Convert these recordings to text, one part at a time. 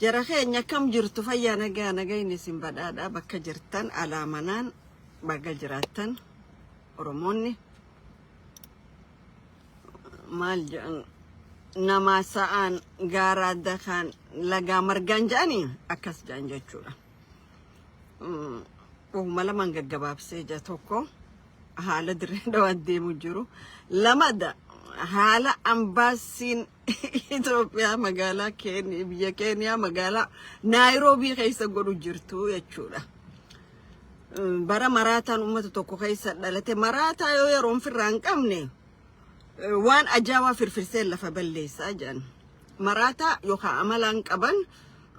Jara keenya akkam jirtu fayyaa nagaa nagayni isin badhaadhaa bakka jirtan alaa manaan baga jiraattan Oromoonni maal jedhan namaa sa'aan gaaraa dakaan lagaa margaan jedhanii akkas jedhan jechuudha. Uuma lamaan gaggabaabsee ija tokko haala dirree dhawaa deemu jiru. Lamada haala ambaasiin Itoophiyaa magaalaa Keeniyaa biyya Keeniyaa magaalaa Naayiroobii keessa godhu jirtu jechuudha. Bara maraataan uummata tokko keessa dhalate maraataa yoo yeroon firraa hin qabne waan ajaa'aa firfirsee lafa balleessaa jedhan. Maraataa yookaan amalaan qaban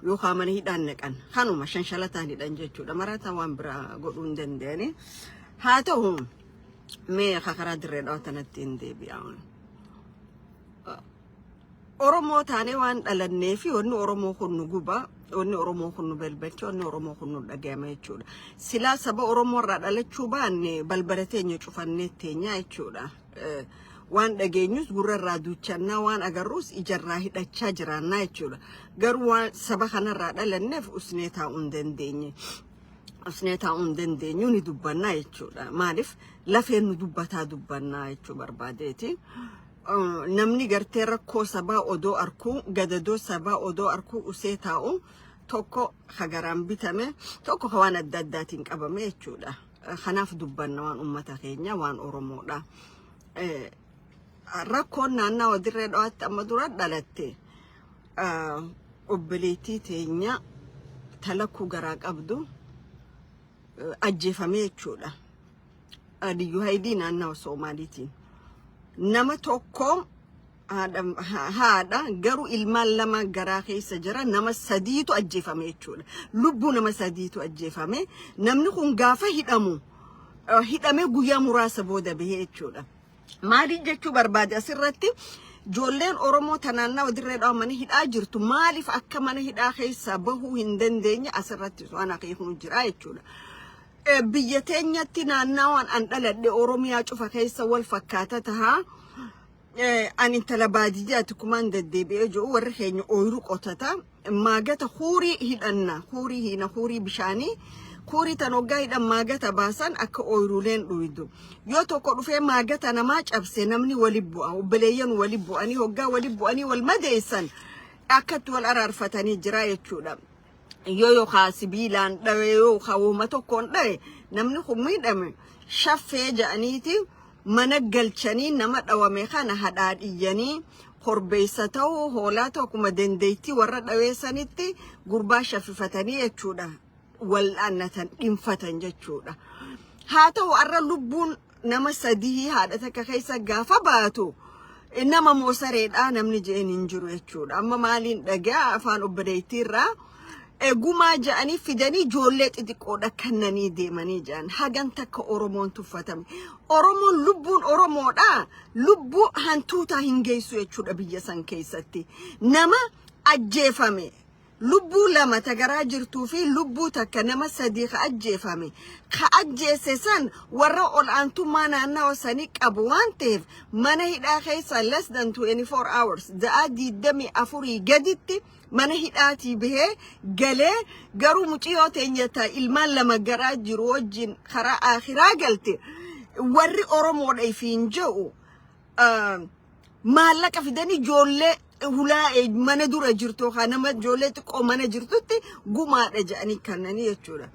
yookaan mana hidhaan naqan kanuma shanshalataan hidhan jechuudha. Maraataa waan biraa godhuu hin dandeenye. Haa ta'u mee karaa dirree dhawatanatti hin deebi'amu. Oromoo taanee waan dhalannee fi wanni Oromoo kun nu guba, wanni Oromoo kun nu balbalcha, wanni Oromoo kun nu dhagayama jechuudha. Silaa saba Oromoo irraa dhalachuu baanne balbala teenya cufannee teenyaa jechuudha. Eh, Waan dhageenyus gurra irraa duuchannaa, waan agarruus ija irraa hidhachaa jiraannaa jechuudha. Garuu waan saba kanarraa dhalanneef usnee taa'uu hin dandeenye. Usnee taa'uu hin dandeenyu ni dubbannaa jechuudha. Maaliif lafeen nu dubbataa dubbannaa jechuu barbaadeeti. Namni gartee rakkoo sabaa odoo arkuu gadadoo sabaa odoo arkuu usee taa'u tokko ka garaan bitame tokko ka waan adda addaatiin qabame jechuudha. Kanaaf dubbanna waan uummata keenya waan Oromoodha. Rakkoon naannawa dirree dhawaatti amma dura dhalatte obboleettii teenya talakkuu garaa qabdu ajjeefamee jechuudha. Aliyyu Haydii naannawa Soomaaliitiin nama tokko haadha garuu ilmaan lama garaa keessa jira nama sadiitu ajjeefame jechuudha. Lubbuu nama sadiitu ajjeefame namni kun gaafa hidhamu hidhamee guyyaa muraasa booda bahee jechuudha. Maaliif jechuu barbaade asirratti ijoolleen Oromoo tanaannaa dirree dhawa mana hidhaa jirtu maaliif akka mana hidhaa keessaa bahuu hin dandeenye asirratti waan akeeknu jira jechuudha. Biyya teenyatti naannawaan an dhaladhe Oromiyaa cufa keessa wal fakkaata taha. An intala baadiyyaati kumaan deddeebi'ee jiru warri keenya ooyiruu qotata. Maagata huurii hidhanna. Huurii hiina huurii bishaanii. Huurii tan hoggaa hidhan maagata baasan akka ooyiruuleen dhuydu. Yoo tokko dhufee maagata namaa cabse namni wali bu'a. Obboleeyyan wali bu'anii hoggaa wali bu'anii wal madeessan akkatti wal araarfatanii jira jechuudha. yoo yookaan sibiilaan dhawe yookaan woma tokkoon dhawe namni kun miidhame shaffee ja'aniiti mana galchanii nama dhawame kana hadhaadhiyyanii korbeessa ta'uu hoolaa ta'u akkuma dandeettii warra dhaweessanitti gurbaa shaffifatanii jechuudha wal'aannatan dhinfatan jechuudha. Haa ta'u har'a lubbuun nama sadihii haadha takka keessa gaafa baatu nama moo sareedha namni je'een hin jiru jechuudha. Amma maaliin dhagaa afaan obboleettiirraa egumaa ja'anii fidanii ijoollee xixiqqoodha kannanii deemanii ja'an hagan takka Oromoon tuffatame. Oromoon lubbuun Oromoodha lubbuu hantuutaa hin geessu jechuudha biyya san keessatti. Nama ajjeefame Lubbuu lama ta garaa jirtuu fi lubbuu takka nama sadii ka ajjeefame, ka ajjeesse san warra ol'aantummaa naannawa sanii qabu waan taheef mana hidhaa keessa less than 24 hours, za'aa 24 gaditti mana hidhaatii bahee galee garuu muciyoo teenya ta ilmaan lama garaa jiru wajjin karaa aakhiraa galte warri Oromoodha ifiin je'u maallaqa fidanii ijoollee hulaa mana dura jirtu yookaan nama ijoollee xiqqoo mana jirtutti gumaadha jedhanii kannanii jechuudha.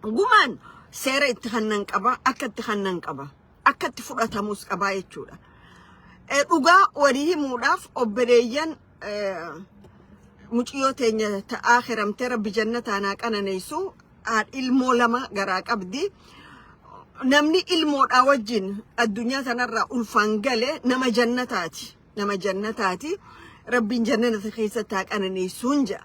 Gumaan seera itti kannan qaba, akka itti kannan qaba, akka itti fudhatamus qaba jechuudha. Dhugaa walii himuudhaaf obboleeyyan muciyyoo teenya ta'aa hiramtee rabbi jannataan haa qananeessu Haadha ilmoo lama garaa qabdi. Namni ilmoodhaa wajjin addunyaa tanarraa ulfaan gale nama jannataati. Nama jannataati. Rabbiin jannata keessatti haa qananeessuun jedha.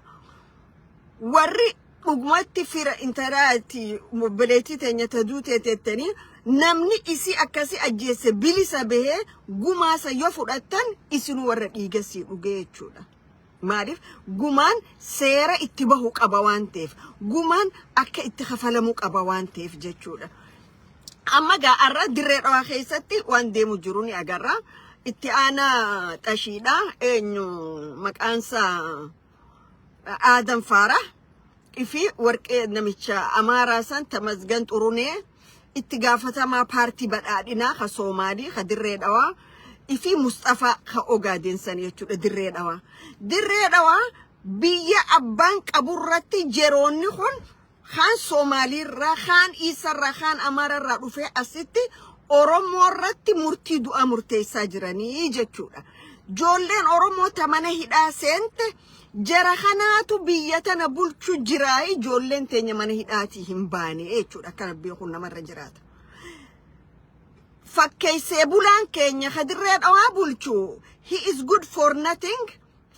Warri dhugumatti fira intaraati obboleettii teenya taduu teeteettanii namni isii akkasii ajjeesse bilisa bahee gumaasa yoo fudhattan isinuu warra dhiigasii dhugee jechuudha. Maaliif gumaan seera itti bahu qaba waan ta'eef, gumaan akka itti kafalamu qaba waan ta'eef jechuudha. Amma gaa har'a dirree dhawaa keessatti waan deemu jiru ni agarra. Itti aanaa xashiidha. Eenyu maqaansaa Aadan Faara fi warqee namicha Amaaraa san Tamasgan Xurunee itti gaafatamaa paartii badhaadhinaa ka Soomaalii ka Dirree Dhawaa ifii Musxafaa ka Ogaadeen san jechuudha Dirree Dhawaa. Dirree Dhawaa biyya abbaan qaburratti jeroonni kun kaan Soomaaliirraa, kaan Iisarraa, kaan Amaararraa dhufee asitti Oromoorratti murtii du'aa murteessaa jiranii jechuudha. Joolleen Oromoo ta mana hidhaa seente Jara kanaatu biyya tana bulchu jira ijoolleen teenya mana hidhaatii hin baane jechuudha akka rabbiin kun namarra jiraata. Fakkeessee bulaan keenya kadirree dhawaa bulchu he is good for nothing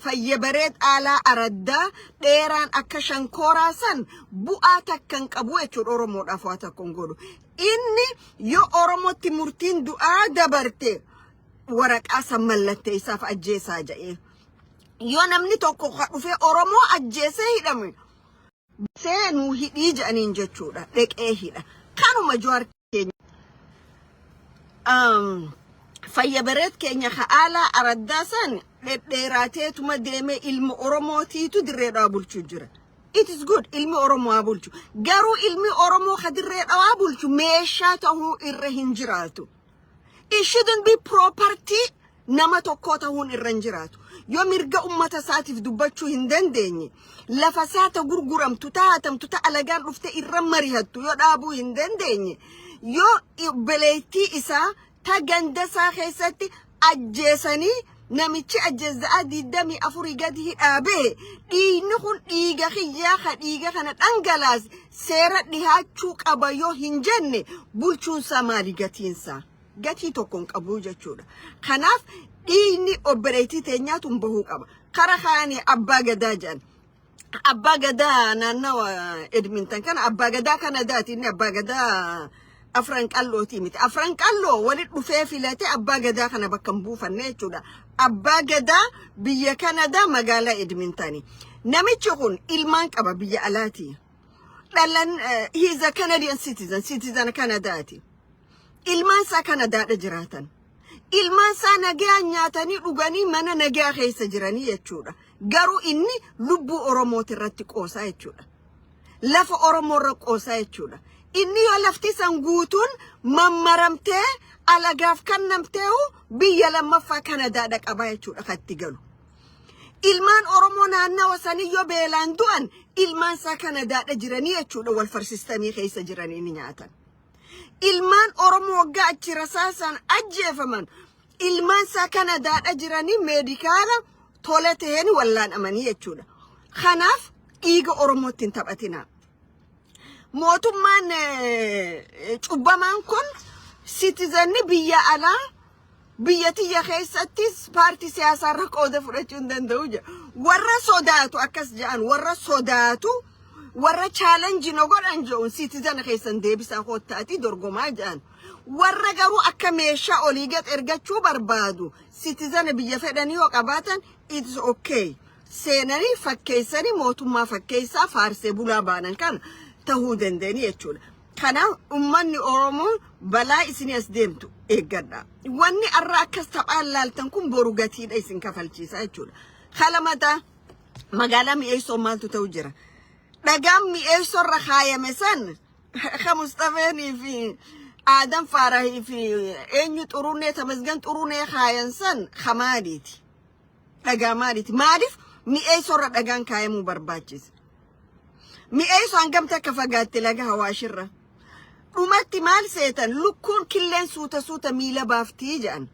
fayya baree xaalaa araddaa dheeraan akka shankooraa san bu'aa takka hin qabu jechuudha Oromoodhaaf waa takka hin godhu. Inni yoo Oromootti murtiin du'aa dabarte waraqaa san mallatteessaaf ajjeesaa jedhee. Yoo namni tokko ka dhufee Oromoo ajjeesee hidhame seenuu hidhii jedhaniin jechuudha dheqee hidha kanuma jawaar keenya um, fayya bareet keenya ka aalaa araddaa san dhedheeraateetuma deemee ilma oromootiitu dirree dhawaa bulchuu jira it is good ilmi oromoo haa bulchu garuu ilmi oromoo ka dirree dhawaa bulchu meeshaa ta'uu irra hin jiraatu It shouldn't be property nama tokkoo ta'uun irra hin jiraatu. Yoo mirga ummata isaatiif dubbachuu hin dandeenye, lafa isaa ta gurguramtu, ta hatamtu, ta alagaan dhufte irra marihattu yoo dhaabuu hin dandeenye, yoo obboleettii isaa ta ganda isaa keessatti ajjeesanii Namichi ajjeessaa 24 gadi hidhaa ba'e dhiigni kun dhiiga kiyyaa ka dhiiga kana dhangalaas seera dhihaachuu qaba yoo hin jenne bulchuunsaa maali gatiinsaa? Gatii tokko hin qabu jechuudha. Kanaaf dhiigni obboleettii teenyaatuun bahuu qaba. Kara kaanii abbaa gadaa jedhan Abbaa gadaa naannawa Edmintan kana abbaa gadaa Kanadaati inni abbaa gadaa afran qal'ootii miti. Afran qal'oo walitti dhufee filatee abbaa gadaa kana bakka hin buufanne jechuudha. Abbaa gadaa biyya Kanadaa magaalaa Edmintani. Namichi kun ilmaan qaba biyya alaati. Dhalan eh, he is a Canadian citizen, citizen Kanadaati. Ilmaan isaa Kanadaadha jiraatan. Ilmaan isaa nagaa nyaatanii dhuganii mana nagaa keessa jiranii jechuudha. Garuu inni lubbuu Oromooti irratti qoosaa jechuudha. Lafa Oromoo irra qoosaa jechuudha. Inni yoo lafti san guutuun mammaramtee alagaaf kannamteehu biyya lammaffaa Kanadaa dhaqabaa jechuudha kan itti galu. Ilmaan Oromoo naannawa sanii yoo beelaan du'an ilmaan isaa Kanadaadha jiranii jechuudha wal farsistanii keessa jiranii ni nyaatan. Ilmaan Oromoo waggaa achi rasaasaan ajjeefaman ilmaan isaa Kanadaadha jiranii meedikaala tole ta'een wallaanamanii jechuudha. Kanaaf dhiiga Oromootti hin taphatinaa. Mootummaan eh, cubbamaan kun sitizanni biyya alaa Biyya tiyya keessattis paartii siyaasaarra qooda fudhachuu hin danda'u jedha. Warra sodaatu akkas jedhan warra sodaatu warra chaalenji no godhan jedhuun siitizana keessan deebisaa koottaatii dorgomaa jedhan. Warra garuu akka meeshaa olii gad ergachuu barbaadu siitizana biyya fedhanii yoo qabaatan it's okay. Seenanii fakkeessanii mootummaa fakkeessaa faarsee bulaa baanan kana tahuu dandeenye jechuudha. Kanaaf ummanni Oromoo balaa isin as deemtu eeggadha. Wanni arra akkas taphaan laaltan kun boru gatiidha isin kafalchiisa jechuudha. Kalamata magaalaa mi'eessoo maaltu ta'u jira? Dhagaan mi'eessoo irra kaayame san ka Mustafeenii fi Aadan Faarahii fi eenyu xurunee tamasgan xurunee kaayan san ka maaliiti? Dhagaa maaliiti? Maaliif mi'eessoo irra dhagaan kaayamuu barbaachise? Mi'eessoo hangamti akka fagaatte laga hawaashirra. Dhumatti maal seetan lukkuun killeen suuta suuta miila baaftii jedhan.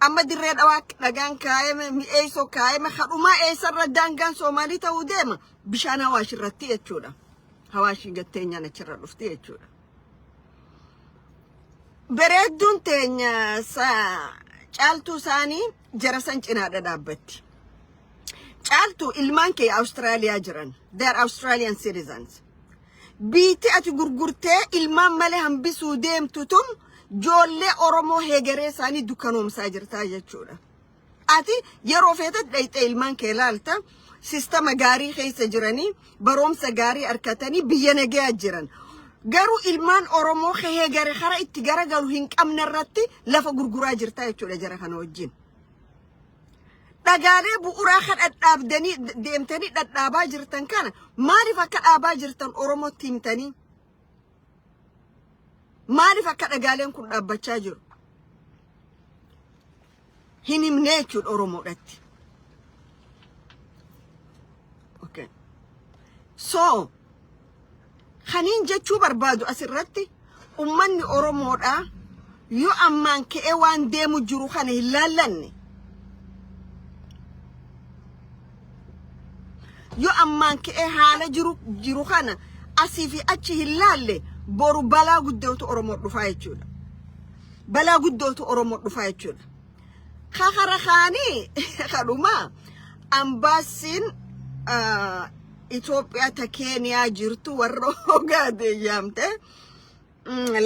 Amma dirree dhawaa dhagaan kaayame mi'eessoo kaayame kadhumaa eessarra daangaan Soomaalii ta'uu deema bishaan hawaashirratti jechuudha. Hawaashii gatteenyaan achirra dhufti jechuudha. Bareedduun teenya caaltuu isaanii jara san cinaa dhadhaabbatti. Caaltu ilmaan kee Awustiraaliyaa jiran. They are Australian citizens. Biitti ati gurgurtee ilmaan malee hambisuu deemtu tun joollee Oromoo heegaree isaanii dukkanoomsaa jirtaa jechuudha. Ati yeroo feetat dhayxee ilmaan kee laalta sistama gaarii keessa jiranii baroomsa gaarii arkatanii biyya nagayaa jiran. Garuu ilmaan Oromoo kehee gara kara itti garagalu hin qabne irratti lafa gurguraa jirta jechuudha jara kana wajjin. Dhagaalee bu'uuraa kan dhadhaabdanii deemtanii dhadhaabaa jirtan kana maaliif akka dhaabaa jirtan Oromootti himtanii? Maaliif akka dhagaaleen kun dhaabbachaa jiru? hin himnee jechuudha Oromoodhatti. Okay. So, kaniin jechuu barbaadu asirratti ummanni Oromoodhaa yoo ammaan ka'ee waan deemu jiru kana hin laallanne Yoo ammaan ka'ee haala jiru jiru kana asii fi achi hin laalle boru balaa guddootu Oromoo dhufaa jechuudha. Balaa guddootu Oromoo dhufaa jechuudha. Kakara kaanii kadhumaa ambaasiin Itoophiyaa ta Keeniyaa jirtu warra hogaadeeyyaamte.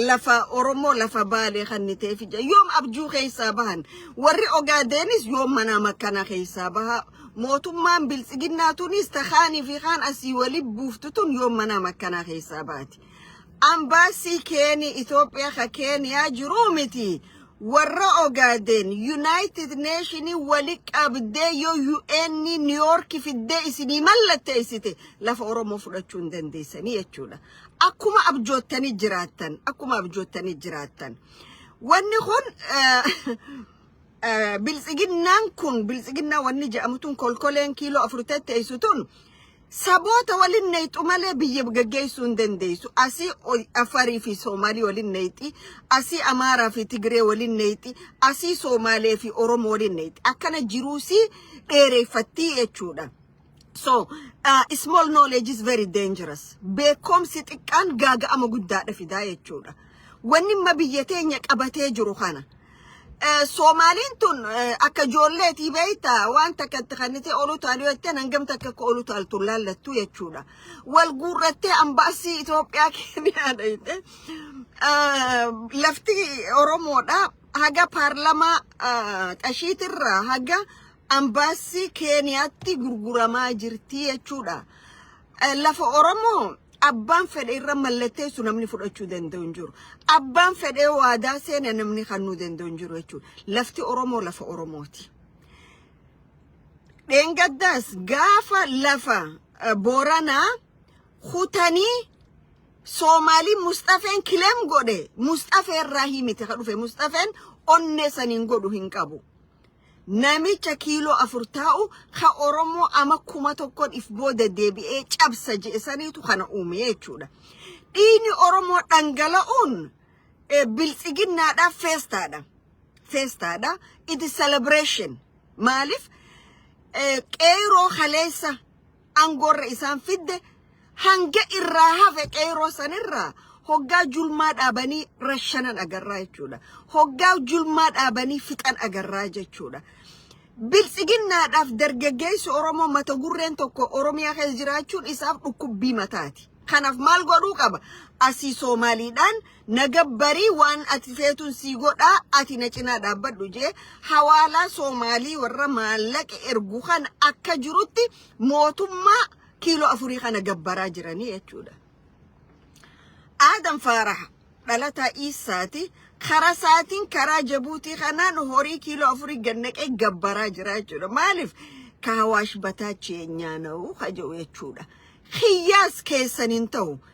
lafa Oromoo lafa Baalee kanniteef ija yoom abjuu keessaa bahan warri Ogaadeenis yoom manaa makkanaa keessaa baha mootummaan biltsiginnaa tunis takaanii fi kaan asii wali buuftu tun yoom manaa makkanaa keessaa baati. Ambaasii keeni Itoophiyaa ka keeniyaa jiruu miti warra Ogaadeen Yuunaayitid Neeshinii wali qabdee yoo UN Niiyoorki fiddee isinii mallatteessite lafa Oromoo fudhachuu hin dandeessanii jechuudha. Akkuma abjoottanii jiraattan, akkuma abjoottanii jiraattan. Wanni kun biltsiginnaan kun biltsiginnaa wanni jedhamu tun kolkoleen kiiloo afur teessu tun saboota waliin neexu malee biyya gaggeessuu hin dandeessu. Asii Afarii fi Soomaalii waliin neexi, asii Amaaraa fi Tigree waliin neexi, asii Soomaalee fi Oromoo waliin neexi. Akkana jiruusii dheereeffattii jechuudha. So, uh, small knowledge is very dangerous. Beekumsi xiqqaan gaaga'ama guddaadha fidaa jechuudha. Wanni amma biyya teenya qabatee jiru kana. Eh, Soomaaliin tun eh, akka ijoolleetii beekta waan takka itti kannitee oluu taaluu jettee hangam takka akka oluu taaltu laallattu jechuudha. Wal guurrattee ambaasii Itoophiyaa keenyaa dhayite. Lafti Oromoodha. Haga paarlamaa xashiitirraa haga Ambaassii Keeniyaatti gurguramaa jirti jechuudha. Lafa Oromoo abbaan fedhe irra mallatteessu namni fudhachuu danda'u hin jiru. Abbaan fedhee waadaa seena namni kannuu danda'u hin jiru jechuudha. Lafti Oromoo lafa Oromooti. Dheengaddaas gaafa lafa Booranaa kutanii Soomaalii Musxafeen kileem godhe Musxafee irraa himite ka dhufe Musxafeen onnee saniin godhu hin qabu. Namicha kiiloo afur taa'u ka Oromoo ama kuma tokkon if booda deebi'ee cabsa je'e saniitu kana uume jechuudha. Dhiini Oromoo dhangala'uun eh, biltsiginnaadha feestaadha. Feestaadha. It is celebration. Maaliif? Eh, Qeeyroo kaleessa angoorra isaan fidde hanga irraa hafe qeeroo sanirraa hoggaa julmaa dhaabanii rashanan agarraa jechuudha. Hoggaa julmaa dhaabanii fixan agarraa jechuudha. Biltsiginnaadhaaf dargaggeessi Oromoo mata gurreen tokko Oromiyaa keessa jiraachuun isaaf dhukkubbii mataati. Kanaaf maal godhuu qaba? Asii Soomaaliidhaan Na gabbarii waan ati feetun sii godhaa ati na cinaa dhaabbadhu jee hawaalaa Soomaalii warra maallaqa ergu kana akka jirutti mootummaa kiiloo afurii kana gabbaraa jiranii jechuudha. Aadam Faaraha dhalataa Iissaati karaa isaatiin karaa Jabuutii kanaan horii kiiloo afurii gannaqee gabbaraa jira jechuudha. Maaliif? Kaawaash bataachi yeenyaa na'u haja'u jechuudha. Kiyyaas keessan hin ta'u.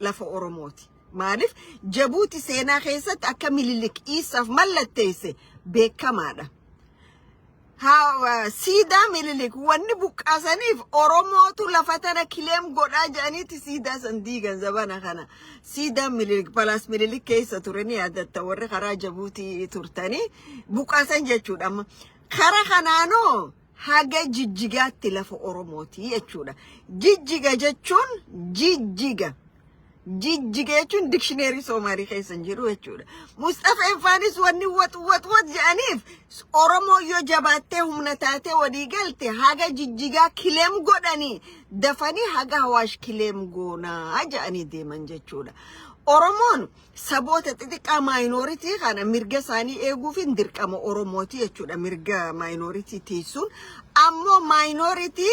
lafa Oromooti. Maaliif Jabuuti seenaa keessatti akka Minilik Iisaaf mallatteesse beekamaadha. Haa- Siidaa Minilik wanni buqqaasaniif Oromootu lafa tana kileem godhaa jedhaniiti siidaa san diigan zabana kana. Siidaa Minilik palaas Minilik keessa ture ni yaadatta warri karaa Jabuutii turtanii buqqaasan jechuudha amma. Kara kanaanoo haga jijjigaatti lafa Oromooti jechuudha. Jijjiga jechuun jijjiga. Jijjiga jechuun dikshineerii Soomaalii keessa hin jiru jechuudha. Mustafa Infaanis wanni wat wat wat jedhaniif Oromoo yoo jabaattee humna taatee walii galte haga jijjigaa kileem godhanii dafanii haga hawaash kileem goonaa jedhanii deeman jechuudha. Oromoon Saboota xixiqqaa minority kana mirga isaanii eeguufin dirqama Oromooti jechuudha mirga minority tiisuun ammoo minority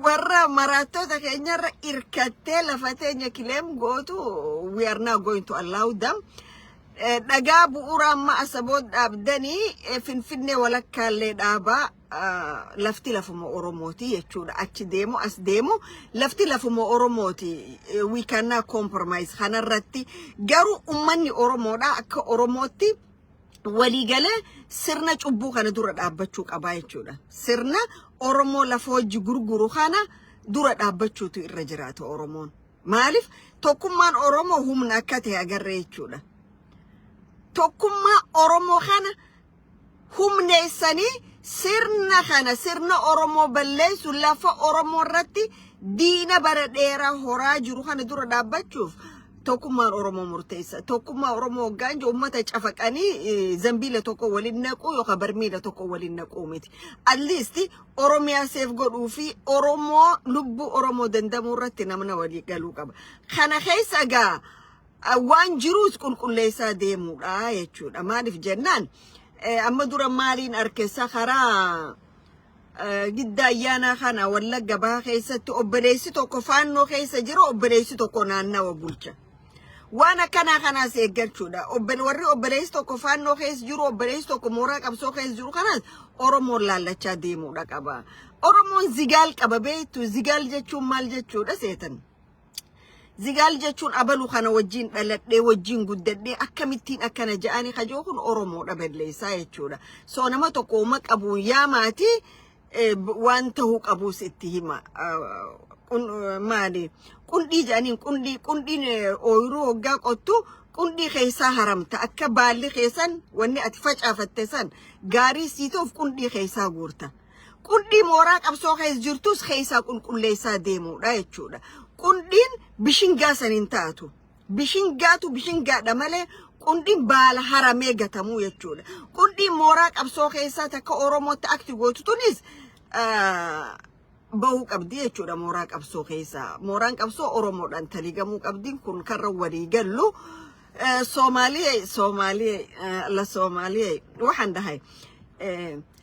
warra maraattoota keenyarra irkattee lafa teenya kileem gootu we are not going to allow them Eh, dhagaa bu'uuraa amma asaboot dhaabdanii eh, finfinnee walakkaallee dhaabaa lafti lafuma Oromooti jechuudha. Achi deemu as deemu lafti lafuma Oromooti. We cannot compromise kanarratti garuu ummanni Oromoodha akka Oromootti waliigalee sirna cubbuu kana dura dhaabbachuu qabaa jechuudha. Sirna Oromoo lafa hojii gurguru kana dura dhaabbachuutu irra jiraata Oromoon. Maaliif tokkummaan Oromoo humna akka ta'e agarree jechuudha. Tokkummaa Oromoo kana humneessanii sirna kana sirna Oromoo balleessu lafa Oromoo irratti diina bara dheeraa horaa jiru kana dura dhaabbachuuf tokkummaan Oromoo murteessa. Tokkummaa Oromoo hoggaan jiru uummata cafaqanii zambiila tokko waliin naquu yookaan barmiila tokko waliin naquu miti. At least Oromiyaa seef godhuu fi Oromoo lubbuu Oromoo dandamuu irratti namna walii galuu qaba. Kana keessa egaa waan jiruus qulqulleessaa deemuudha jechuudha. Maaliif jennaan amma dura maaliin arkessa karaa gidda ayyaanaa kana wallagga baha keessatti obboleessi tokko faannoo keessa jira obboleessi tokko naannawa bulcha. Waan akkanaa kanaas eeggachuudha. Warri obboleessi tokko faannoo keessa jiru obboleessi tokko mooraa qabsoo keessa jiru kanaas Oromoon laallachaa deemuudha qaba. Oromoon zigaal qaba beektu zigaal jechuun maal jechuudha seetan. Zigaal jechuun abalu kana wajjin dhaladhee wajjin guddadhee akkamittiin akkana ja'anii kajoo kun Oromoodha balleessaa jechuudha. Soo nama tokko uma qabuun yaa maatii eh, b- waan ta'uu qabuus itti hima. Ah, qun- eh, Maali? Qundhii jedhaniin qundhii qundhiin eh, ooyiruu hoggaa qottu qundhii keessaa haramta akka baalli keessan wanni ati facaafatte san gaarii siituuf qundhii keessaa guurta. Qundhii mooraa qabsoo keessa jirtus keessaa qulqulleessaa deemuudha jechuudha. Qundhiin bishingaa san hin taatu. Bishingaatu bishingaadha malee qundhiin baala haramee gatamuu jechuudha. Qundhiin mooraa qabsoo keessaa takka Oromootti akti gootu tunis ah, bahuu qabdi jechuudha mooraa qabsoo keessaa. Mooraan qabsoo Oromoodhaan taligamuu qabdi kun karra walii gallu. Eh, Soomaaliyee Soomaaliyee eh, la Soomaaliyee waxaan dhahay eh,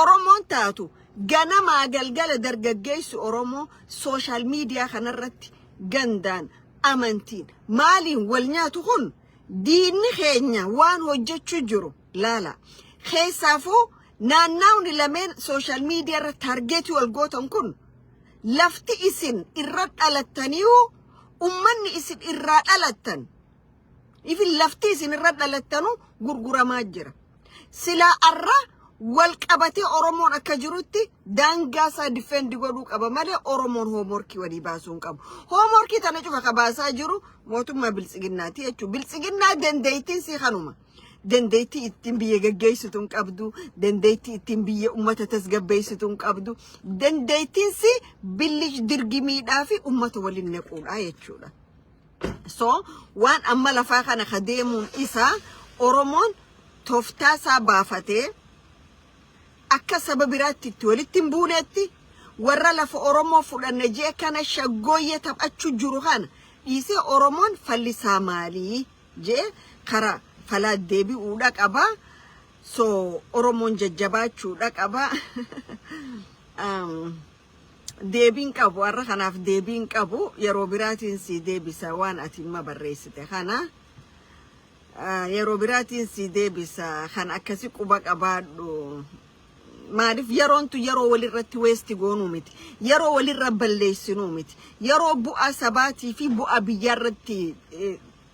Oromoon taatu ganamaa galgala dargaggeessi Oromoo sooshaal miidiyaa kanarratti gandaan amantiin maaliin wal nyaatu kun diinni keenya waan hojjechuu jiru laala. Keessaafuu naannaawni lameen sooshaal miidiyaa irra taargeetii wal gootan kun lafti isin irra dhalattaniihu ummanni isin irraa dhalattan ifin lafti isin irra dhalattanu gurguramaa jira. Silaa arra wal qabatee Oromoon akka jirutti daangaa isaa difeend godhuu qaba malee Oromoon hoomorkii walii baasuu hin qabu. Hoomorkii tana cufa ka baasaa jiru mootummaa biltsiginnaati jechuudha. Biltsiginnaa dandeettiin si kanuma. Dandeettii ittiin biyya gaggeessitu hin qabdu. Dandeettii ittiin biyya uummata tasgabbeessitu hin qabdu. Dandeettiin si billish dirgimiidhaa fi uummata waliin naquudha jechuudha. So waan amma lafaa kana ka deemuun isaa Oromoon toftaa isaa baafatee akka saba biraatti itti walitti hin buunetti warra lafa Oromoo fudhanne jee kana shaggooyyee taphachuu jiru kana dhiisee Oromoon fallisaa maalii jee kara falaa deebi'uudha qaba. So Oromoon jajjabaachuudha qaba. um, deebiin qabu arra kanaaf deebiin qabu yeroo biraatiin sii deebisa waan ati imma barreessite kana yeroo biraatiin sii deebisa kan akkasi quba qabaadhu maaliif yeroontu yeroo walirratti weesti goonuu miti yeroo walirra balleessinuu miti yeroo bu'aa sabaatii fi bu'aa biyyaarratti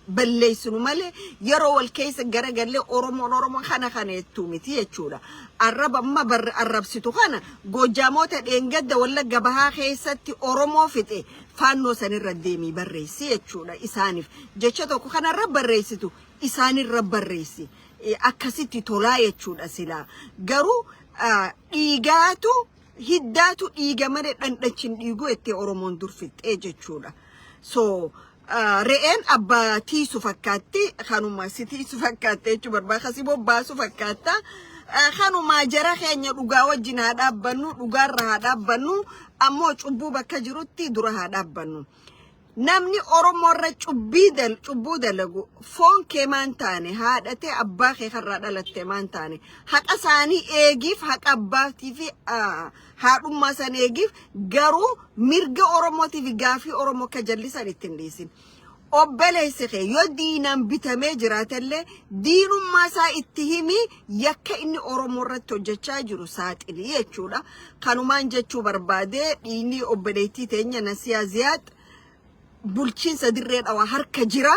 balleessinu malee yeroo wal keessa garagallee Oromoon Oromoo kana kana jettu miti jechuudha. Arraba amma bar arrabsitu kana Goojjaamoota dheengadda Wallagga Bahaa keessatti Oromoo fixe faannoo sanirra deemii barreessi jechuudha isaaniif. Jecha tokko kanarra barreessitu isaanirra barreessi. Eh, Akkasitti tolaa jechuudha silaa. Garuu ah, dhiigaatu hiddaatu dhiiga malee dhandhachi hin dhiigu jettee Oromoon dur fixxee jechuudha. So Re'een abba tiisu fakkaatti kanuma si tiisu fakkaatte jechuu barbaada kasi bobbaasu fakkaatta kanuma jara keenya dhugaa wajjin haa dhaabbannu dhugaarra haa dhaabbannu ammoo cubbuu bakka jirutti dura haa dhaabbannu. Namni Oromoo irra cubbii dal cubbuu dalagu foon kee maan taane haadhatee abbaa kee karraa dhalatte maan taane haqa isaanii eegiif haqa abbaatii fi haadhummaa san eegiif garuu mirga oromootiif gaafii oromoo akka jallisan itti hin dhiisin obboleessi kee yoo diinaan bitamee jiraatellee diinummaa isaa itti himii yakka inni oromoo irratti hojjechaa jiru saaxili jechuudha kanumaan jechuu barbaadee dhiinii obboleettii teenya nasiyaa ziyaad bulchiinsa dirree dhawaa harka jira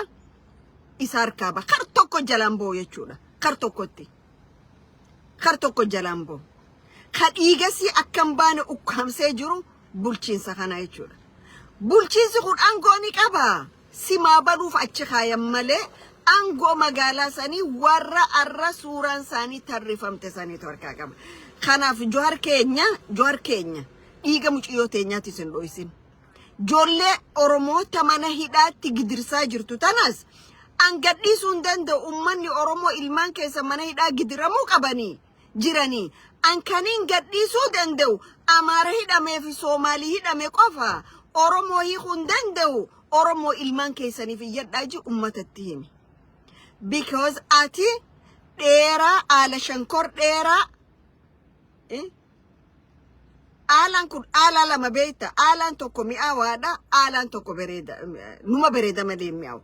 isa harkaa ba kar tokko jalaan ba'u jechuudha kar tokkotti. kar tokko jalaan ba'u. Ka dhiigasii akka hin baane ukkaamsee jiru bulchiinsa kana jechuudha. Bulchiinsi kun aangoo ni qaba. Simaa baluuf achi kaayan malee aangoo magaalaa sanii warra arra suuraan isaanii tarrifamte saniitu harkaa qaba. Kanaaf Johar keenya, Johar keenya dhiiga muciyyoo teenyaatti isin dho'isin. Ijoollee Oromoota mana hidhaatti gidirsaa jirtu tanas an gadhiisuu hin danda'u ummanni Oromoo ilmaan keessa mana hidhaa gidiramuu qabanii jiranii an kaniin gadhiisuu danda'u Amaara hidhamee fi Soomaalii hidhame qofa Oromoo hiikuu hin danda'u Oromoo ilmaan keessaniif iyyadhaa ji ummatatti himi. Because ati dheeraa haala shankor dheeraa eh, Aalaan kun aalaa lama beekta. Aalaan tokko mi'aawaadha. Aalaan tokko bareeda. Numa bareeda malee hin mi'aawu.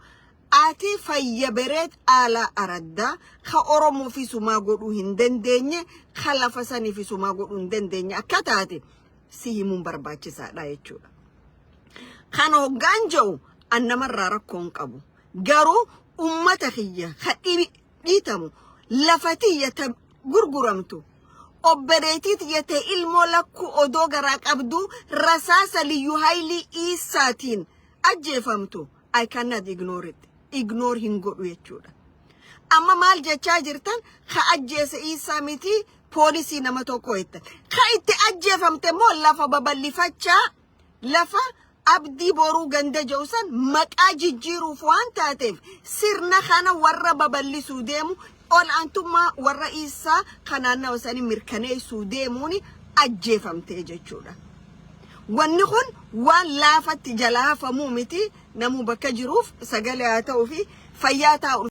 Ati fayya bereed aalaa araddaa ka Oromoo fi sumaa godhuu hin dandeenye ka lafa sanii fi sumaa godhuu hin dandeenye akka taate si himuun barbaachisaadha jechuudha. Kan hoggaan jedhu an namarraa rakkoo hin qabu. Garuu uummata kiyya ka dhibi dhiitamu lafa tiyya ta gurguramtu obboleetii tiyya ta ilmoo lakkuu odoo garaa qabduu rasaasa liyyu haylii iisaatiin ajjeefamtu I cannot ignore it. Ignore hin godhu jechuudha. Amma maal jechaa jirtan ka ajjeese iisaa miti poolisii nama tokko jette. Ka itti ajjeefamte immoo lafa babal'ifachaa lafa Abdii Boruu ganda jedhu san maqaa jijjiiruuf waan taateef sirna kana warra babal'isuu deemu ol'aantummaa warra Iissaa kan naannawa sanii mirkaneessuu deemuun ajjeefamtee jechuudha. Wanni kun waan laafatti jala hafamuu miti namuu bakka jiruuf sagalee haa ta'uu fi fayyaa taa'u.